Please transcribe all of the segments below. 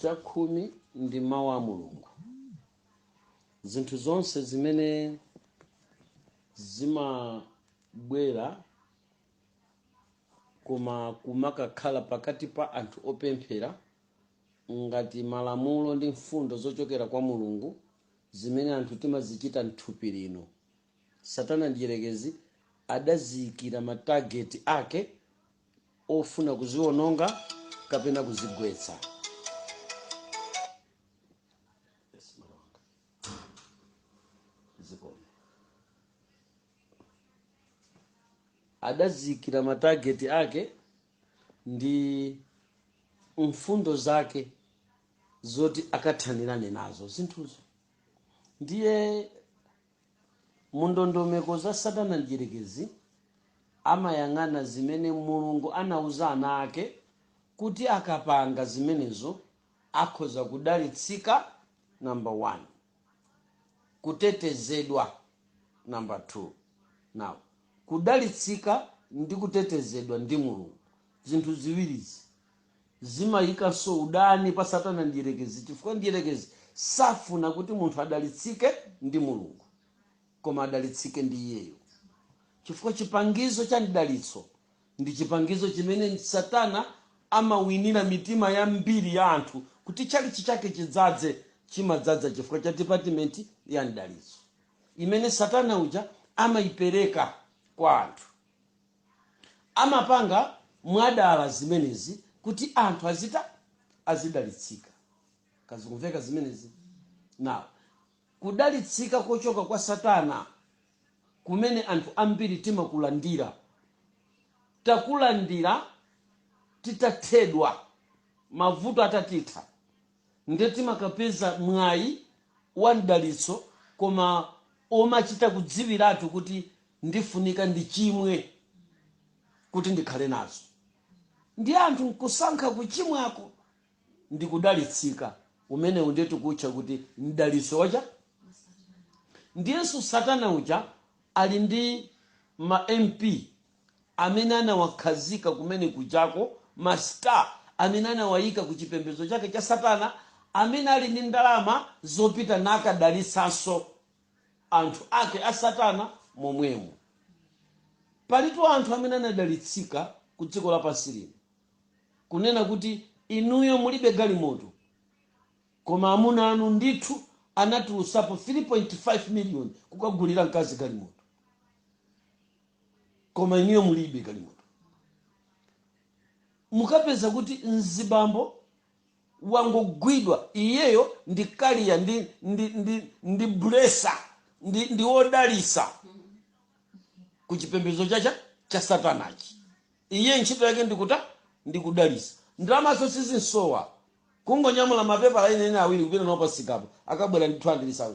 Chakhumi ndi Mawu a Mulungu. Zinthu zonse zimene zimabwera koma kumakakhala pakati pa anthu opemphera ngati malamulo ndi mfundo zochokera kwa Mulungu zimene anthu timazichita m'thupi lino. Satana Mdyerekezi adaziyikira matageti ake ofuna kuziwononga kapena kuzigwetsa. Adaziyikira matageti ake ndi mfundo zake zoti akathanirane nazo zinthuzo ndiye Mu ndondomeko za Satana Mdyerekezi amayang'ana zimene Mulungu anauza ana ake kuti akapanga zimenezo akhoza kudalitsika number 1. Kutetezedwa number 2. Now kudalitsika ndi kutetezedwa ndi Mulungu zinthu ziwirizi Zimayikanso udani pa Satana Mdyerekezi chifukwa Mdyerekezi safuna kuti munthu adalitsike ndi Mulungu, koma adalitsike ndi iyeyo chifukwa chipangizo cha mdalitso ndi chipangizo chimene Satana amawinira mitima yambiri ya anthu kuti tchalitchi chake chidzadze, chimadzadza chifukwa cha dipatimenti ya mdalitso imene Satana uja amayipereka kwa anthu. Amapanga mwadala zimenezi kuti anthu azita azidalitsika kaya zikumveka zimenezi now kudalitsika kochoka kwa satana kumene anthu ambiri timakulandira takulandira titathedwa mavuto atatitha. nde timakapeza mwayi wa mdalitso koma omachita kudziwiratu kuti ndifunika ndichimwe kuti ndikhale nazo ndiye anthu nkusankha kuchimwako ndi kudalitsika umenewu ndiye tikuutcha kuti mdalitso wa chani ndiyenso satana uja ali ndi ma mp amene anawakhazika kumene kujako, ma star amene anawayika ku chipembedzo chake cha satana, amene ali ndi ndalama zopita nakadalitsanso anthu ake a satana momwemo. Palitu anthu amene anadalitsika ku dziko lapansi lino, kunena kuti inuyo mulibe galimoto, koma amuna anu ndithu anatulutsapo 3.5 miliyoni kukagulira mkazi galimoto. koma inuyo mulibe galimoto mukapeza kuti mzibambo wangogwidwa iyeyo ndi kaliya ndi, ndi, ndi, ndi blesser ndi, ndi wodalisa ku chipembedzo chacha cha satanachi iye ntchito yake ndikuta ndikudalisa ndalamazo sizimsowa kungonyamula mapepala ine ine awiri kupita nawo pamsikapo akabwera ndi 200000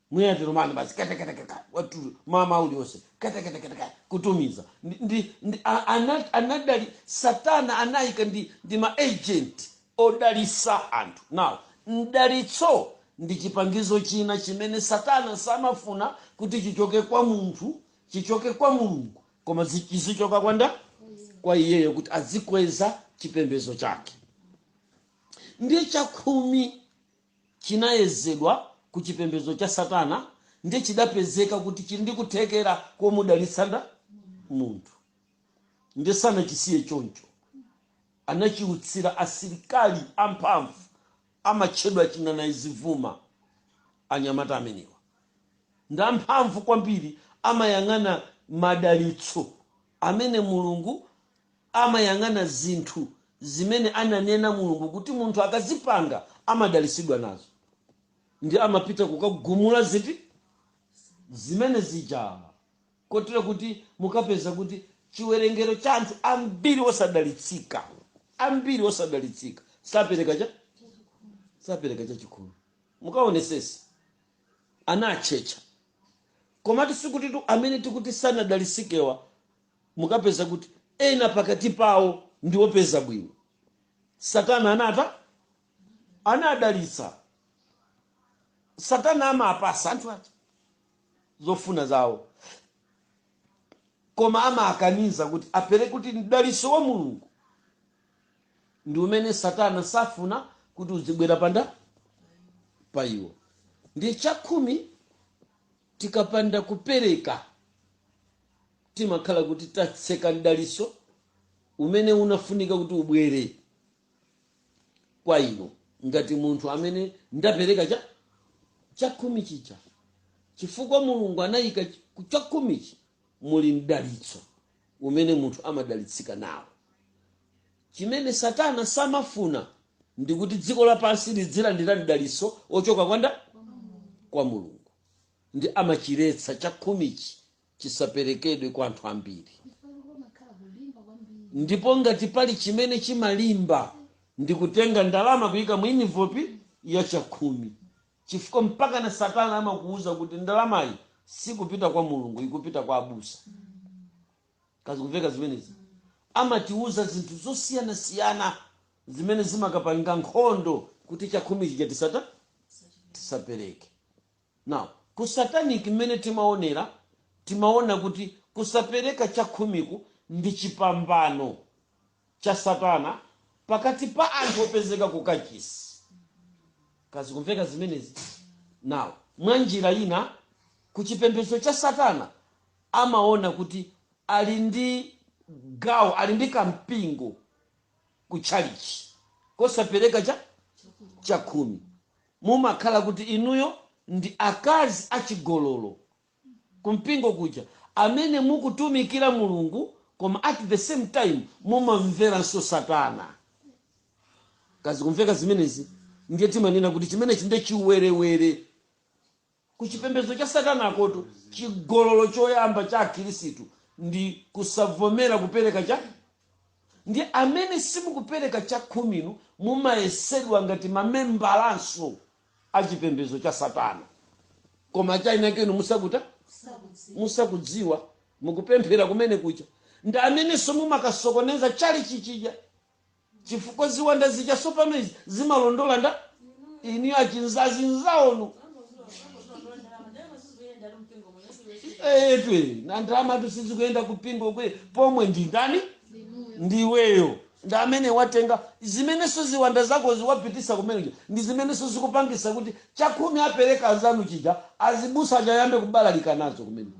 mwina tilumani basi katakataka watu mmawa uliwonse katakataka kutumiza ndi, ndi, ndi, a- ana- anadali satana anayika ndi, ndi maagent odalisa anthu now mdalitso ndi chipangizo china chimene satana samafuna kuti chichoke kwa munthu chichoke kwa mulungu koma zi- chizichoka kwa nda kwa iyeyo kuti azikweza chipembezo chake ndi chakhumi chinayezedwa ku chipembedzo cha satana nde chidapezeka kuti chili ndi kuthekera komudalitsa nda? munthu. nde sanachisiye choncho. anachiutsira asilikali amphamvu amatchedwa chinanayizivuma. anyamata amenewa ndi amphamvu kwambiri amayang'ana madalitso amene mulungu. amayang'ana zinthu zimene ananena Mulungu kuti munthu akazipanga amadalitsidwa nazo, ndiye amapita kukagumula ziti? Zimene zija. Kotero kuti mukapeza kuti chiwerengero cha anthu ambiri osadalitsika, ambiri osadalitsika sapereka cha sapereka chachikhumi. Mukaonesese ana atchetcha, komatu sikutitu amene tikuti sanadalisikewa mukapeza kuti ena pakati pawo ndi opeza bwino satana anata anadalitsa satana amapasa anthu aja zofuna zawo koma amakaniza kuti apereke kuti mdaliso wa mulungu ndi umene satana safuna kuti uzibwera pa nda pa iwo ndi chakhumi tikapanda kupereka timakhala kuti tatseka mdaliso umene unafunika kuti ubwere kwa inu ngati munthu amene ndapereka cha chakhumi chija chifukwa mulungu anayika ch- ku chakhumichi muli mdalitso umene munthu amadalitsika nawo chimene satana samafuna ndikuti dziko lapansi lidzilandira mdaliso ochoka kwa nda kwa mulungu ndi amachiletsa chakhumichi chisaperekedwe kwa anthu ambiri. Ndipo ngati pali chimene chimalimba ndi kutenga ndalama kuika mu envelopu ya chakhumi, chifukwa mpakana Satana amakuuza kuti ndalamayi sikupita kwa Mulungu, ikupita kwa abusa. Ka zikumveka zimenezi amatiuza zinthu zosiyanasiyana zimene zimakapanga nkhondo kuti chakhumi chija tisata tisapereke. Now ku satanic mmene timaonera timaona kuti kusapereka chakhumiku ndi chipambano cha satana pakati pa anthu opezeka ku kachisi ka zikumveka zimenezi? Now mwa njira ina ku chipembedzo cha satana amaona kuti ali ndi gawo ali ndi kampingo ku tchalitchi kosapereka cha chakhumi. mumakhala kuti inuyo ndi akazi achigololo kumpingo kuja amene mukutumikira Mulungu koma at the same time mumamveranso satana. Ka zikumveka zimenezi? Ndiye timanena kuti chimenechi nde chiwerewere. Ku chipembedzo cha Satanakotu, chigololo choyamba cha Akhristu ndi kusavomera kupereka cha Ndiye amene simukupereka chakhuminu mumayesedwa ngati mamembalanso a chipembedzo cha Satana. Koma chinachake inu musakuta musakudziwa, mukupemphera kumene kuja ndi amenenso mumakasokoneza tchalitchi chija. chifukwa ziwanda zija tsopano izi zimalondola nda inu achinzazi nzaonu etwe na ndalama tu sizikuyenda kumpingo kwe pomwe ndi ndani ndiweyo ndi amene watenga zimenenso ziwanda zako ziwapitisa kumene kuja ndi zimenenso zikupangisa kuti chakhumi apereka azanu chija azibusa akayambe kubalalika nazo kumene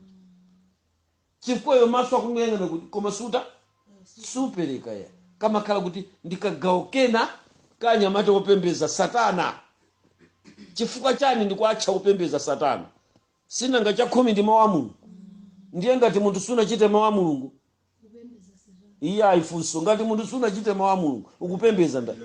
chifukwa iwe maso ukungoyang'ana kuti koma suta supereka ya kamakhala kuti ndikagawo kena ka anyamata opembeza satana chifukwa chani ndikuatcha opembeza satana sinanga chakhumi ndi mawu a mulungu ndiye ngati munthu sunachite mawu a mulungu iyayi funso ngati munthu sunachite mawu a mulungu ukupembeza ndani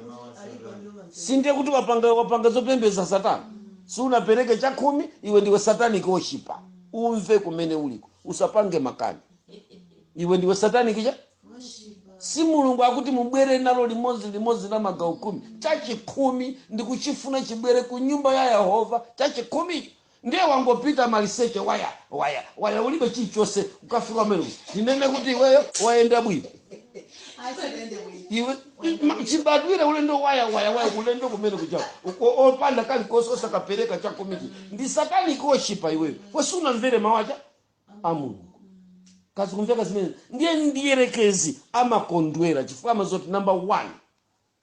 sindiye kuti wapanga, wapanga zopembeza satana sunapereke chakhumi iwe ndiwe satanic worshipper umve kumene uliko usapange makani iwe ndiwe satanic cha si mulungu akuti mubwere nalo limodzi limodzi la magawo khumi chachikhumi ndikuchifuna chibwere ku nyumba ya yehova chachikhumicho Ndiye wangopita maliseche waya waya waya ulibe chilichonse ukafika kumene ndinene kuti iweyo wayenda bwino iwe ma- chibadwire ulendo waya waya waya ulendo kumene kuja uko- opanda kalikonse osakapereka chakhumi ndi satanic worshipa iweyo wosamvera mawu a mulungu kodi zikumveka zimene ndiye ndiyerekezi amakondwera chifukwa amaziwa zoti number one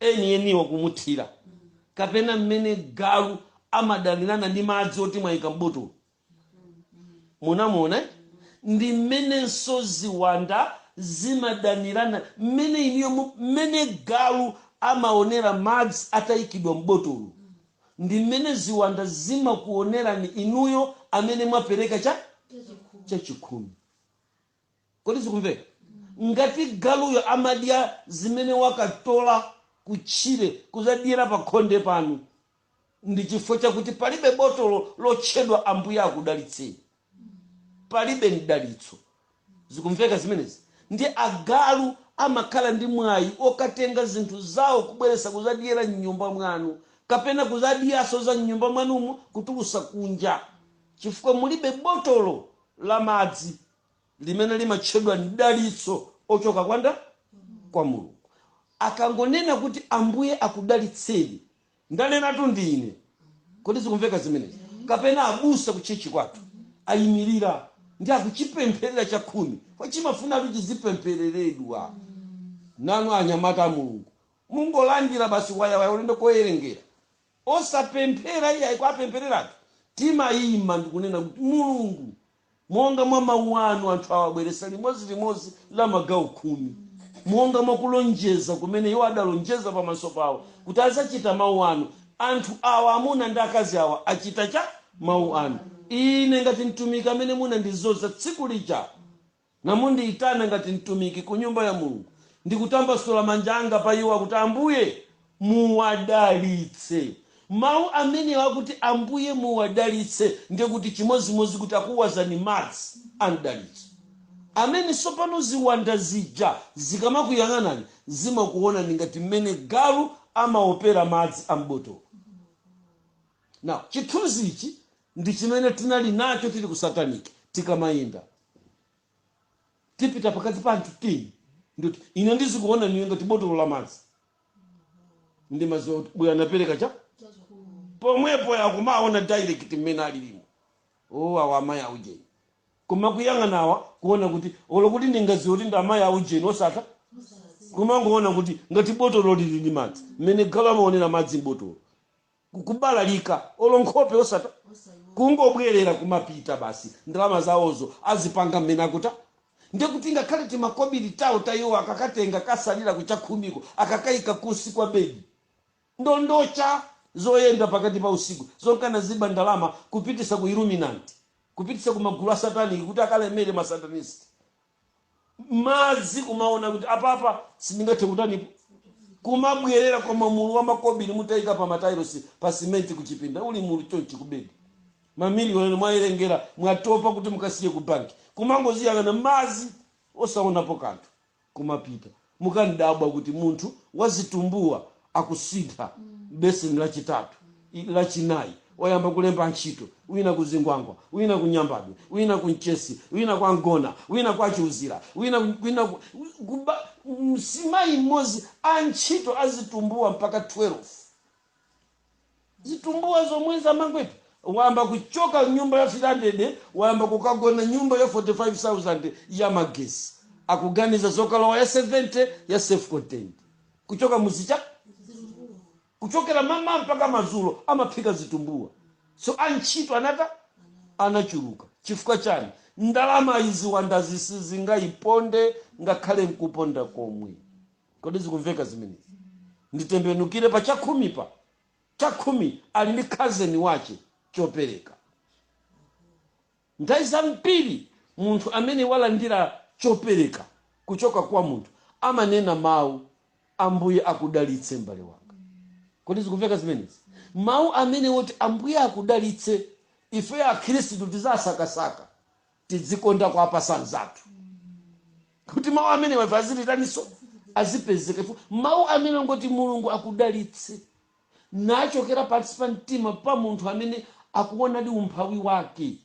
enieniwo kumuthira kapena mmene galu amadanirana ndi madzi oti mwayika m'botolo munamuona ndi mmenenso ziwanda zimadanirana mmene inuyo mu- mmene galu amaonera madzi atayikidwa m'botolo ndi mmene ziwanda zimakuonerani inuyo amene mwapereka chachikhumi Kodi zikumveka? Ngati galuyo amadya zimene akatola kutchire kudzadyera pakhonde panu, ndi chifukwa chakuti palibe botolo lotchedwa Ambuye akudalitseni. Palibe mdalitso. Zikumveka zimenezi? Ndiye agalu amakhala ndi mwayi wokatenga zinthu zawo kubweretsa kudzadyera m'nyumba mwanu, kapena kudzadyanso za m'nyumba mwanumo kutulutsa kunja, chifukwa mulibe botolo la madzi limene limatchedwa mdalitso ochoka kwa ndani? Kwa Mulungu. Akangonena kuti Ambuye akudalitseni, ndanenatu ndine. Kodi zikumveka zimenezi? Kapena abusa ku church kwathu ayimirira ndi akuchipempherera chakhumi chimafunatu chizipemphereredwa. Nanu anyamata a Mulungu mungolandira basi wayawaya ulendo koyerengera. Osapemphera iyayi, kuwapemphereratu. Timaima ndi kunena kuti, Mulungu, monga mwa mau anu anthu awa abweretsa limodzi limodzi la magawo khumi, monga mwa kulonjeza kumene iwo adalonjeza pamaso pawo kuti adzachita mau anu, anthu awa, amuna ndi akazi awa, achita chani? Mau anu. Ine ngati mtumiki amene munandidzoza tsiku lija. Nimundiitana ngati mtumiki ku nyumba ya Mulungu, ndikutambasula manja anga pa iwo, kuti, Ambuye, muwadalitse. Mawu amenewo akuti, Ambuye, muwadalitse, ndiye kuti chimodzimodzi kuti akuwazani madzi a mdalitso. Ameni. Tsopano, ziwanda zija zikamakuyang'anani, zimakuwonani ngati mmene galu amawopera madzi a m'botolo. Now, chithunzi ichi ndichimene tinali nacho tili ku satanic tikamayenda tipita pakati pa anthu teni ndikuti ine ndizikuona iwe ngati botolo la madzi ndimaziwa zoti uyu anapereka cha pomwepo wakumaona direct mmene alilimo o awa amayi aujeni koma kuyang'anawa kuona kuti olo kuti ndingaziwe kuti ndi amayi aujeni osatheka kumangoona kuti ngati botolo lili ndi madzi mmene galu amaonera madzi m'botolo kubalalika olo nkhope osata kungobwelera kumapita basi ndalama zawozo azipanga mmene akutha ndekuti ngakhale timakobili tawo ta iwowo akakatenga kusalira ku chakhumiko akakaika kunsi kwa bedi ndondocha zoyenda pakati pa usiku zonka anaziba ndalama kupitisa ku illuminant kupitisa ku magulu a satanic kuti akalemere ma satanist madzi kumaona kuti apapa sindingathe kutanipo kumabwerera koma mulu wa makobiri mutayika pa matailosi pa simenti kuchipinda uli mulu chonchi kubedi mamiliyoni mwayerengera mwatopa kuti mukasiye ku banki kumangoziyang'ana madzi osaonapo kanthu kumapita Mukandabwa kuti munthu wazitumbuwa akusintha beseni lachitatu, lachinayi, wayamba kulemba ntchito, wina ku Zingwangwa, wina ku Nyambadwe, wina ku Mchesi, wina kwa Ngona, wina kwa Chiuzira, wina wina mzimayi m'modzi, antchito azitumbuwa mpaka 12. zitumbuwa zomwezi amangwetu wayamba kuchoka nyumba ya 300 wayamba kukagona nyumba ya 45000 ya magesi akuganiza zokalowa ya 70 ya self contained kuchoka muzija kuchokera mmawa mpaka madzulo amaphika zitumbuwa so antchito anata anachuluka chifukwa chani ndalama izi wandazizi zingaiponde ngakhale nkuponda komwe kodi zikumveka zimenezi nditembenukire pa chakhumi pa chakhumi ali ndi cousin wache chopereka nthawi zambiri munthu amene walandira chopereka kuchoka kwa munthu amanena mawu ambuye akudalitse m'bale wanga kodi zikumveka zimenezi mawu amenewo oti ambuye akudalitse ifeyo akhristu tizasakasaka tidzikonda kuwapasa anzathu kuti mawu amenewa azitaniso azipezeka mawu amenewa oti mulungu akudalitse ochokera pansi pa mtima pa munthu amene akuonadi umphawi wake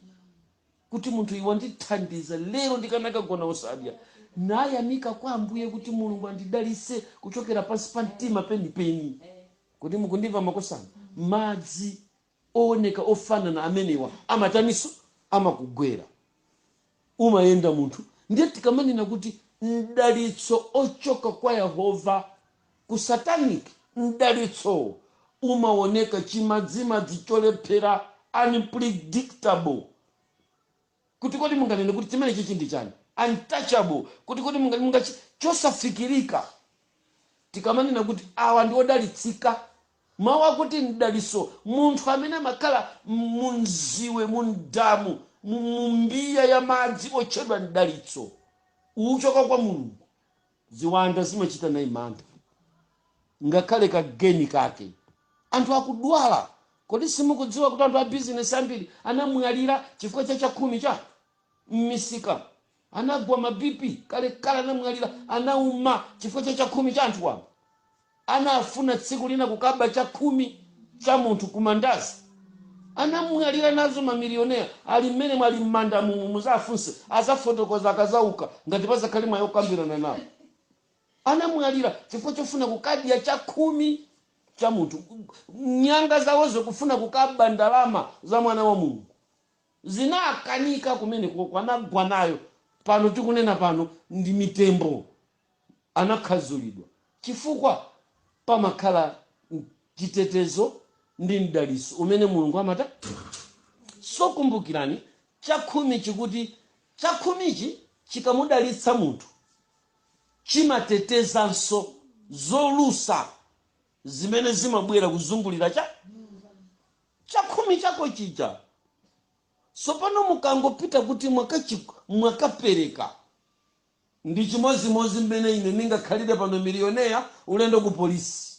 kuti munthu iwe wandithandiza lero ndikanakagona osadya nayamika kwa ambuye kuti mulungu andidalitse kuchokera pansi pa mtima penipeni kodi mukundimva makosana madzi owoneka ofanana amenewa amataniso? Amakugwera umayenda munthu. Ndiye tikamanena kuti mdalitso ochoka kwa Yehova ku satanic, mdalitso umawoneka chimadzimadzi cholephera, unpredictable. Kuti kodi munganene kuti chimenechichi ndi chani? Untouchable. Kuti kodi munga mungachi chosafikirika. Tikamanena kuti awa ndi odalitsika. Mawu akuti m'dalitso munthu amene amakhala mu mziwe, mu m'damu, mu mu mbiya ya madzi otchedwa m'dalitso, ochoka kwa Mulungu. Ziwanda zimachita naye mantha ngakhale ka geni kake. Anthu akudwala. Kodi simukudziwa kuti anthu a bizinesi ambiri anamwalira chifukwa cha chakhumi cha m'misika? Anagwa ma BP kalekale, anamwalira, anauma chifukwa cha chakhumi cha anthu wamba. anafuna tsiku lina kukaba chakhumi cha munthu ku mandazi anamwalira nazo mamiliyonera ali mmenemu ali mmanda mumu muzafunse azafotokoza akazauka ngati pazakhale mwayi okambirana nawo anamwalira chifukwa chofuna kukadya chakhumi cha munthu nyanga zawozo kufuna kukaba ndalama za mwana wa mulungu zinakanika kumenekoko anagwa nayo pano tikunena pano ndi mitembo anakhadzulidwa chifukwa pamakhala chitetezo ndi mdalitso umene Mulungu amata so kumbukirani chakhumi chikuti chakhumichi chikamudalitsa munthu chimatetezanso zolusa zimene zimabwera kuzungulira cha chakhumi chako chija sopano mukangopita kuti mwakachi- mwakapereka Ndi chimodzimodzi mmene ine ningakhalire pano, milioneya, ulendo ku polisi.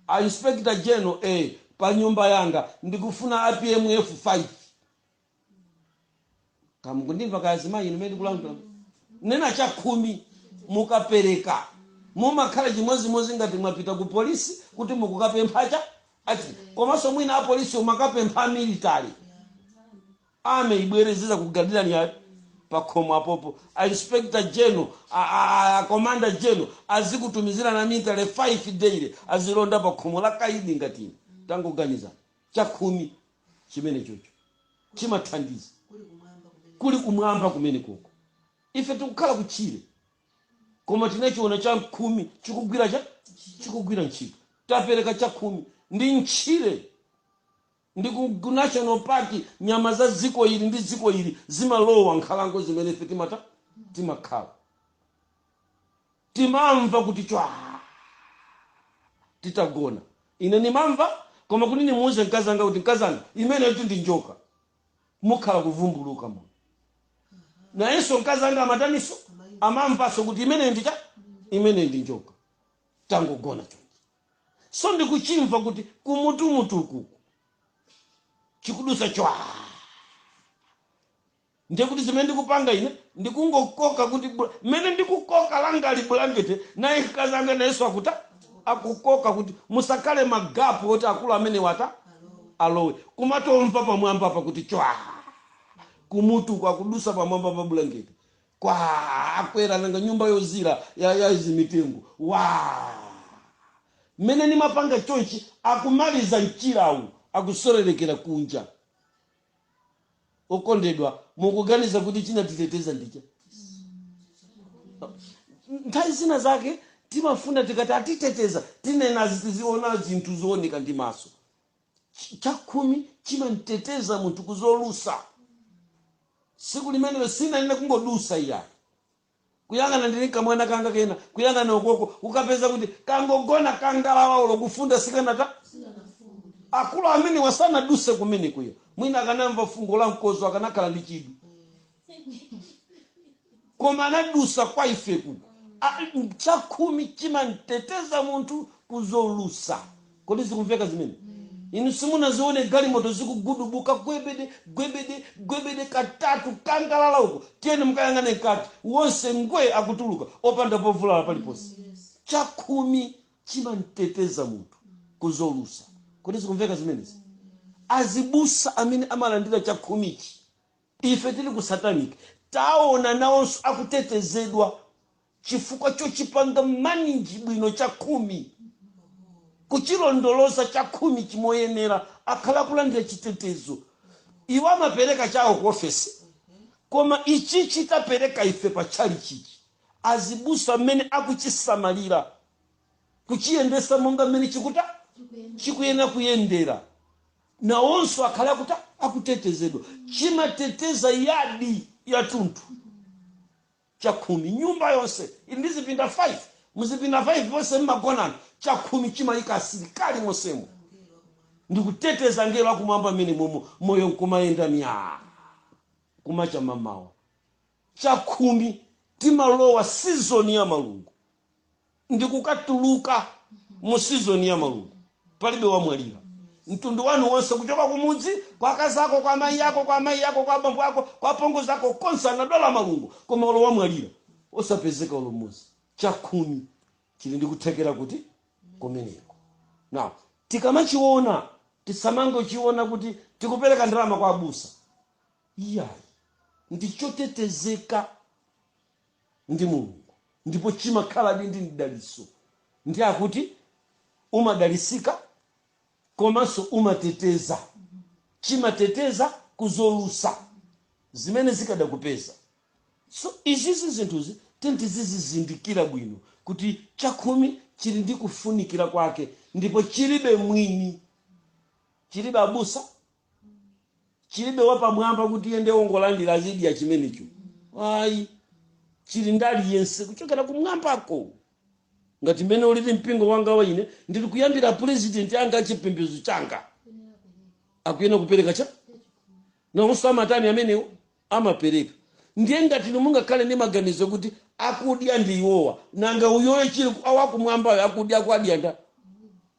A Inspector General, a, pa nyumba yanga, ndikufuna a PMF 5. Kaya mukundimva, kaya azimayi inu mmene ndikulankhulira? Nena chakhumi, mukapereka, mumakhala chimodzimodzi ngati mwapita ku polisi kuti mukukapempha cha, ati, komanso mwina apolisiwo mwakapempha amilitary. Army ibwere izizakugadirani pakhomo apopo. A Inspector General, a, a, a, a Commander General azikutumizirani a military 5 daily azilonda pakhomo la kaidi ngati inu. Tangoganizani. Chakhumi chimenechocho chimathandiza. Kuli kumwamba kumenekoko. Ife tikukhala kutchire. Koma tinachiona chakhumi chikugwira cha chikugwira ntchito. Tapereka chakhumi mu ntchire. Ndi ku, ku national park, nyama za dziko ili ndi dziko ili zimalowa m'nkhalango zimene ife timata, timakhala. Timamva kuti chwaa titagona. Ine ndimamva, koma kuti ndimuuze mkazi wanga kuti, Mkazi wanga, imeneyotu ndi njoka. Kukhala kuvumbuluka muno. Nayenso mkazi wanga amataninso? Amamvanso kuti imeneyo ndi cha? Imeneyo ndi njoka. Tangogona chonchi. so ndikuchimva kuti kumutumutuku uku chikudutsa chwaa ndiye kuti zimene ndikupanga ine ndikungokoka kuti bula- mmene ndikukoka langa ili bulangete naye mkazi anga nayenso akuta akukoka kuti musakhale magapu oti akulu amene wata alowe kumatomva pamwamba apa kuti chwa kumutu kwakudusa pamwamba pa bulangete Kwaaa kwera nanga nyumba yozizira ya zimitengo waa mmene ndimapanga chonchi akumaliza mchirawo akusererekera kunja okondedwa mukuganiza kuti chinatiteteza ndi chani nthawi zina zake timafuna tikati atiteteza tinena tiziona zinthu zooneka ndi maso Ch- chakhumi chimamteteza munthu kuzolusa tsiku limenelo sinali ina kungodutsa iyayi kuyang'ana ndili kamwana kanga kena kuyang'ana ukoko ukapeza kuti kangogona kangalawa olo kufunda sikanata akulu amene asanadutse kumene kuyo mwina akanamva fungo la mkodzo akanakhala ndi chidwi koma anadutsa kwa ife kuno chakhumi chimamteteza munthu kuzolusa kodi zikumveka zimene inu simunazione galimoto zikugudubuka gwebede gwebede gwebede katatu kangalala uko tiyeni mukayang'ane mkati onse ngwee akutuluka opanda povulala paliponse chakhumi chimamteteza munthu kuzolusa kodi zikumveka zimenezi azibusa amene amalandira chakhumichi Ife tili ku satanic taona nawonso akutetezedwa chifukwa chochipanga manage bwino chakhumi kuchilondoloza chakhumichi moyenera akhala akulandira chitetezo iwo amapereka chawo ku ofesi koma ichichi tapereka ife pa tchalichichi azibusa mmene akuchisamalira kuchiyendesa monga mmene chikuta chikuyenera kuyendera. nawonso akhale akuta, akutetezedwa. Chimateteza yadi yatunthu, chakhumi, nyumba yonse ili ndi zipinda 5, muzipinda 5 monse mmagona anthu, chakhumi chimayika asilikali monsemo ndikuteteza ngelo wakumwamba mmenemomo moyo nkumayenda myaa. Kumacha mamawa chakhumi timalowa season ya malungo. ndikukatuluka mu season ya malungo palibe wamwalira mtundu wanu wonse kuchoka kumudzi kwa akazi ako kwa amayi ako kwa amayi ako kwa abambo ako kwa apongozi ako konse anadwala malungo koma olo wamwalira osapezeka olo mmodzi chakhumi chili ndi kuthekera kotikumeneko now tikamachiona tisamangochiona kuti tikupereka ndalama kwa abusa iyayi ndichotetezeka ndi Mulungu ndipo chimakhaladi ndi mdalitso nde akuti umadalitsika komanso umateteza, chimateteza ku zolusa zimene zikadakupeza. So izizi zinthuzi tiyeni tizizizindikira bwino kuti chakhumi chili ndi kufunikira kwake ndipo chilibe mwini, chilibe abusa, chilibe wapamwamba kuti iye ndiye wongolandira azidya chimenecho ayi chili ndi aliyense kuchokera kumwambako ngati mmene ulili mpingo wanga wa ine ndili kuyambira pulezidenti anga achipembedzo changa akuyenera kupereka chani nawonso amatani amenewo amapereka ndiye ngati inu mungakhale ndi maganizo kuti akudya ndi iwowa nanga uyoyo chili wakumwambayo akudya akwadya nda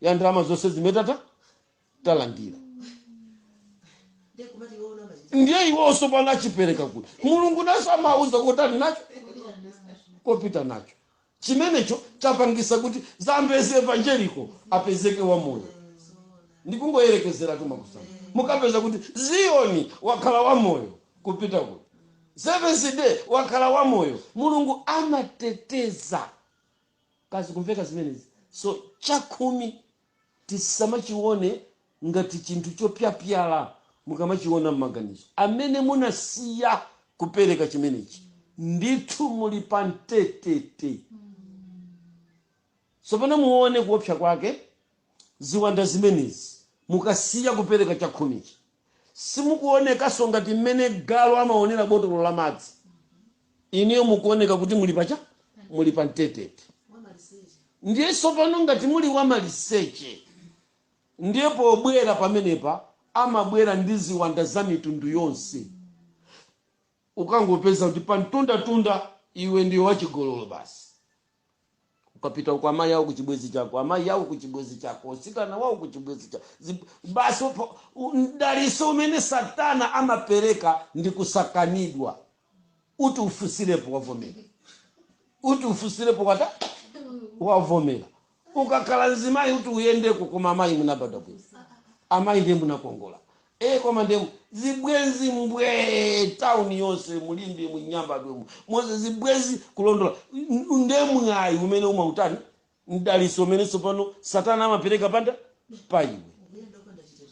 ya ndalama zonse zimene tatani talandira ndiye kumati iwe unaona chiti ndiye iwonso pano achipereka kuti mulungu naso amauza kuti ali nacho kopita nacho chimenecho chapangisa kuti Zambezi Evangeliko apezeke wamoyo ndikungoyerekezeratu makusana mukapeza kuti ziyoni wakhala wamoyo kupita kuti seventh day wakhala wamoyo mulungu amateteza ka zikumveka zimenezi so chakhumi tisamachione ngati chinthu chopyapyala mukamachiona mmaganizo amene munasiya kupereka chimenechi ndithu muli pa mtetete tsopano muone kuopsa kwake Ziwanda zimenezi mukasiya kupereka chakhumichi, simukuonekanso ngati mmene galu amaonera botolo la madzi. Inuyo mukuoneka kuti muli pa cha? Muli pa mtetete. Ndiye tsopano ngati muli wamaliseche, ndiye pobwera pamenepa amabwera ndi ziwanda za mitundu yonse. Ukangopeza kuti pa mtundatunda iwe ndiwe wachigololo basi, ukapita uko amayi awo kuchibwezi chako amayi awo kuchibwezi chako usikana wawo kuchibwezi chako Zip- basi upo- u- mdaliso umene satana amapereka ndi kusakanidwa uti ufunsirepo wavomera uti ufunsirepo watani wavomera ukakhala mzimayi uti uyendeko koma amayi munabadwa bwino amayi ndiye munakongola ee koma nde zibwenzi mbwee town yonse mu limbe mu nyambadwe mu monse zibwenzi kulondola N- nde mwayi umene umautani mdaliso umene tsopano satana amapereka panda pa iwe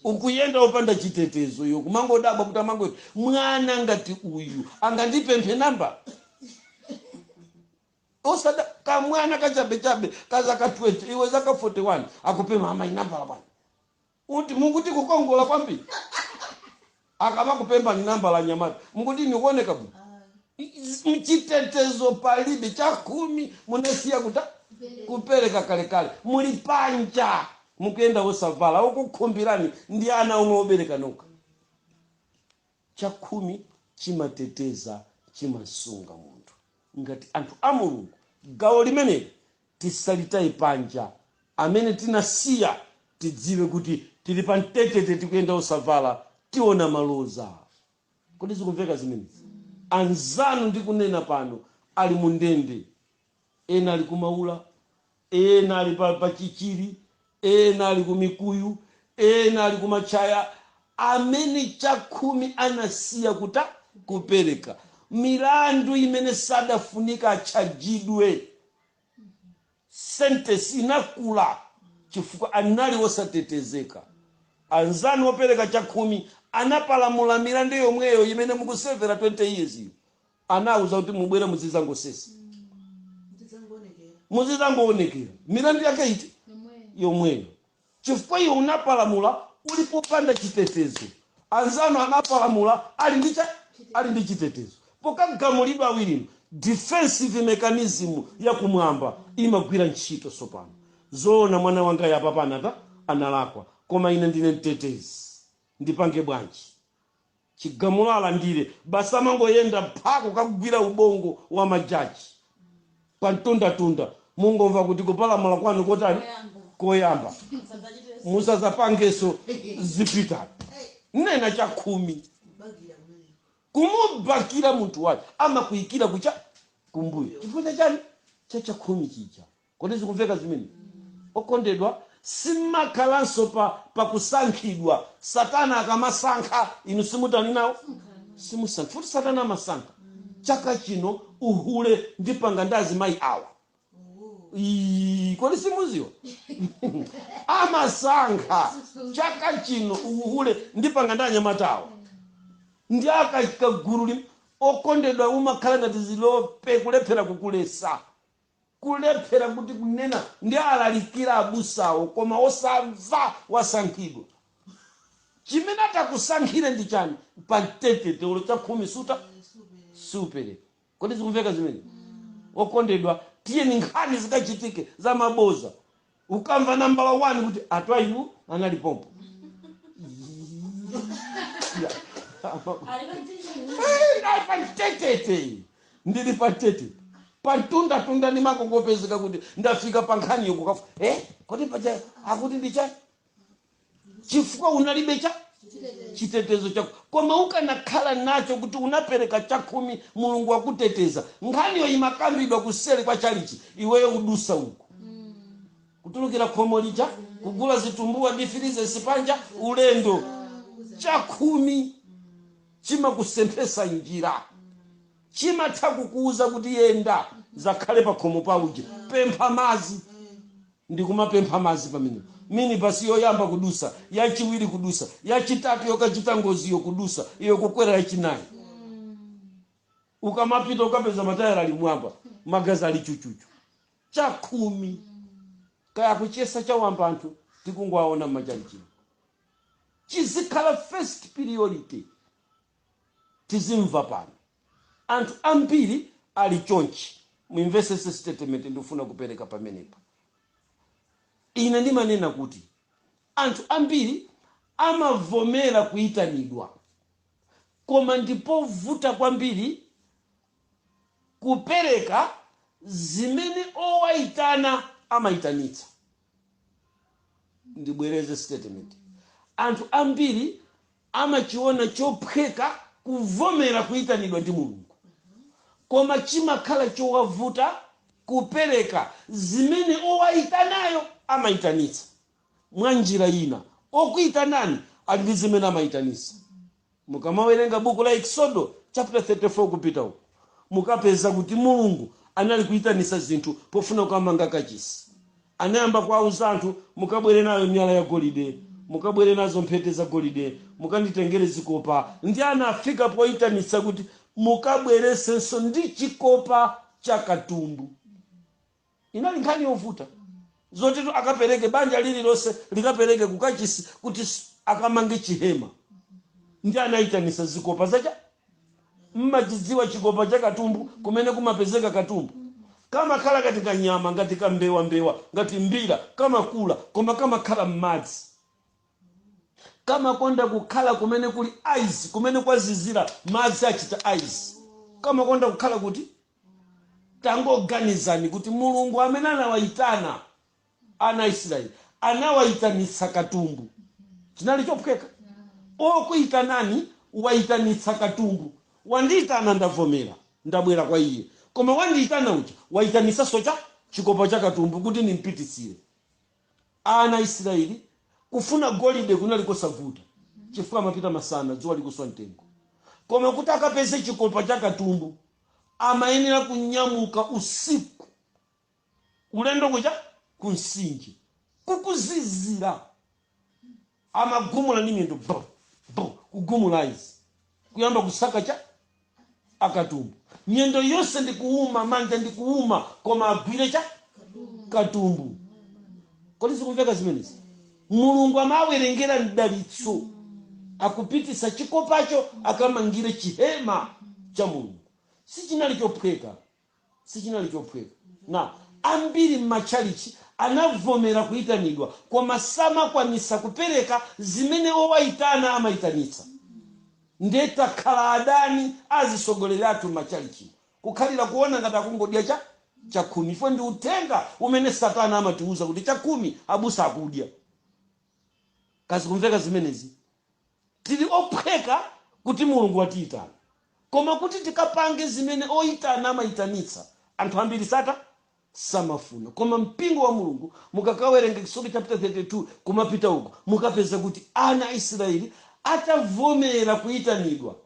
ukuyenda opanda chitetezo iwe kumangodabwa kuti amango mwana ngati uyu angandipemphe namba osati kamwana kachabechabe kazaka 20 iwe zaka 41 akupempha amayi nambala bwana Kuti mukuti kukongola kwambiri akamakupemphani nambala anyamata mukuti ndi kuoneka bwino chitetezo palibe chakhumi munasiya kutani kupereka kalekale muli panja mukuyenda osavala okukhumbirani ndi ana omwe obereka nokha Chakhumi chimateteza, chimasunga munthu. Ngati anthu a Mulungu, gawo limeneli tisalitaye panja. Amene tinasiya tidziwe kuti tili pa mtetete tikuyenda osavala tiona maloza. Kodi zikumveka zimenezi? Anzanu ndikunena pano ali mu ndende ena ali ku Maula ena ali pa, pa Chichiri ena ali ku Mikuyu ena ali ku Matchaya amene chakhumi anasiya kuta kupereka milandu imene sadafunika atchajidwe sentesi inakula chifukwa anali wosatetezeka anzanu opereka chakhumi anapalamula milandu yomweyo imene mukusevera 20 years iyo anawauza kuti mubwere muzidzangosesa muzidzangoonekera milandu yake iti yomweyo chifukwa iwe unapalamula uli popanda chitetezo anzanu anapalamula ali ndi cha ali ndi chitetezo pokagamulidwa awirinu defensive mechanism yakumwamba imagwira ntchito tsopano zoona mwana wangayu apapa anata analakwa koma ine ndine mtetezi ndipange bwanji chigamulo alandire basi amangoyenda pha kukagwira ubongo wa ma judge pa mtundatunda mungomva kuti kupalamula kwanu kotani koyamba musazapangeso zipitani nena chakhumi kumubakira munthu wache amakuikira kucha kumbuyo chifukwa cha chani cha chakhumi chija Kodi zikumveka zimene, okondedwa? Simumakhalanso pa, pa kusankhidwa. Satana akamasankha, inu simutani nawo? Simusankha. Futi Satana amasankha. Chaka chino, uhule ndipanga ndi azimayi awa. Iii, kodi simuziwa? amasankha. Chaka chino, uhule ndipanga ndi anyamata awa. Ndi aka, kagulu lim, okondedwa, umakhala ngati zilope, kulephera kukulesa. kulephera kuti kunena ndi alalikira abusawo koma osamva wasankhidwa chimene atakusankhire ndi chani pa mtetete ulo chakhumi suta siupereka kodi zikumveka zimene okondedwa tiyeni nkhani zikachitike za maboza Ukamva nambala 1 kuti a Twaibu anali pompo. Pa mtetete ndili pa mtetete pantundatunda ndimakangopezeka kuti ndafika pa nkhani yokukafu eh, kodi paja akuti ndichani chifukwa unalibe cha chitetezo chako koma ukanakhala nacho kuti unapereka chakhumi mulungu wakuteteza nkhaniyo imakambidwa kuseri kwa chalichi iweyo udusa uku kutulukira khomo lija kugula zitumbuwa ndi filizesi panja ulendo chakhumi chimakusemphesa njira chimatha kukuuza kuti yenda ukakhale pakhomo pa uje pempha mazi ndikumapempha mazi pamenepo. Minibus yoyamba kudusa, yachiwiri kudusa, yachitatu yokachita ngoziyo kudusa, iwe kukwera yachinayi. Ukamapita ukapeza matayala ali m'mwamba, magazi ali chuchuchu. Chakhumi kaya kuchiyesa chawamba anthu tikungowaona m'machalichimo. Chizikhala first priority. tizimva pano anthu ambiri ali chonchi muimvesese statement ndikufuna kupereka pamenepa ine ndimanena kuti anthu ambiri amavomera kuitanidwa koma ndipovuta kwambiri kupereka zimene owaitana amaitanitsa. ndibwereze statement anthu ambiri amachiona chophweka kuvomera kuitanidwa ndi mulungu koma chimakhala chowavuta kupereka zimene owaitanayo amaitanitsa mwa njira ina okuitanani ali ndi zimene amaitanitsa Mukamawerenga buku la Eksodo chapter 34 kupita uko, mukapeza kuti Mulungu anali kuitanisa zinthu pofuna kukamanga kachisi. Anayamba kuwauza anthu, mukabwere nayo miyala ya golide, mukabwere nazo mphete za golide, mukanditengere zikopa. Ndiye anafika poitanitsa kuti mukabweresenso ndi chikopa cha katumbu. Inali nkhani yovuta, zotitu akapereke, banja lililonse likapereke ku kachisi kuti akamange chihema. Ndiye anayitanitsa zikopa za cha. Mmachidziwa chikopa cha katumbu, kumene kumapezeka katumbu? Kamakhala ngati kanyama, ngati kambewambewa, ngati mbira, kamakula, koma kamakhala mmadzi. Kamakonda kukhala kumene kuli ice, kumene kwazizira, madzi achita ice. Kamakonda kukhala kuti? Tangoganizani kuti Mulungu amene anawaitana ana a Isiraeli anawaitanitsa katumbu. Chinali chophweka? Wokuitanani waitanitsa katumbu. Wandiitana, ndavomera, ndabwera kwa iye. Koma wandiitana uja waitanitsanso cha? Chikopa cha katumbu kuti nim'pititsire. Ana a Isiraeli kufuna golide kunali kosavuta chifukwa amapita masana dzuwa likuswa mtengo. Koma kuti akapeze chikopa cha katumbu amayenera kunyamuka usiku ulendo kuja ku mtsinje kukuzizira amagumula ndi miyendo bo bo kugumula izi kuyamba kusaka cha akatumbu miyendo yonse ndi kuuma manja ndi kuuma koma agwire cha katumbu kodi zikumveka zimenezi Mulungu amawerengera mdalitso akupititsa chikopacho akamangire chihema cha Mulungu. Sichinali chophweka. Sichinali chophweka. Na ambiri m'matchalitchi anavomera kuitanidwa koma samakwanitsa kupereka zimene owaitana amaitanitsa. Nde takhala adani a azitsogoleri athu m'matchalitchi. kukhalira kuona ngati akungodya chakhumi chifukwa ndi uthenga umene satana amatiuza kuti chakhumi abusa akudya kaya zikumveka zimenezi tili ophweka kuti mulungu watiyitana koma kuti tikapange zimene oyitana amayitanitsa anthu ambiri sata samafuna. Koma mpingo wa Mulungu, mukakawerenga Eksodo chapter 32, kumapita uko, mukapeza kuti ana Israeli atavomera kuitanidwa,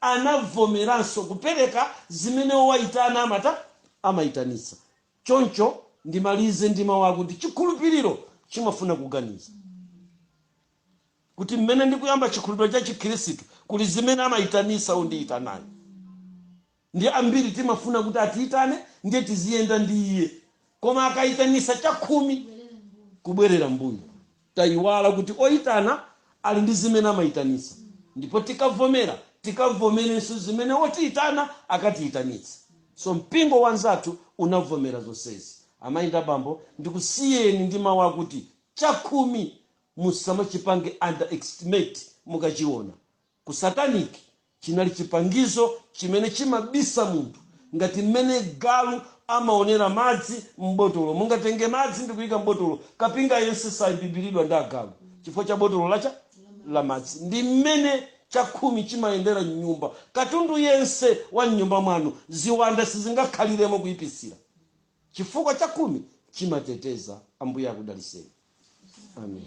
anavomeranso kupereka zimene owaitana amata, amaitanitsa. Choncho, ndimalize ndi mau akuti chikhulupiliro chimafuna kuganiza. Kuti m'mene ndikuyamba chikhulupiliro cha chikhirisitu, kuli zimene amaitanitsa ondiitanayo. Ndiye ambiri timafuna kuti atiitane ndiye tiziyenda ndi iye koma akaitanisa chakhumi kubwerera mbuyo taiwala kuti oitana ali ndi zimene amaitanisa ndipo tikavomera tikavomerenso zimene otiitana akatiitanitse so mpingo wa nzathu unavomera zonsezi amai ndi abambo ndikusiyeni ndi mau akuti chakhumi musamachipange underestimate mukachiona Ku satanic chinali chipangizo chimene chimabisa munthu ngati mmene galu amaonera madzi m'botolo. Mungatenge madzi ndikuika m'botolo kapinga yense saibibiridwa ndi agalu chifukwa cha botolo la cha? la madzi. Ndi mmene chakhumi chimayendera m'nyumba. Katundu yense wa m'nyumba mwanu ziwanda sizingakhaliremo kuipsira chifukwa chakhumi chimateteza. Ambuye akudaliseni. Amen.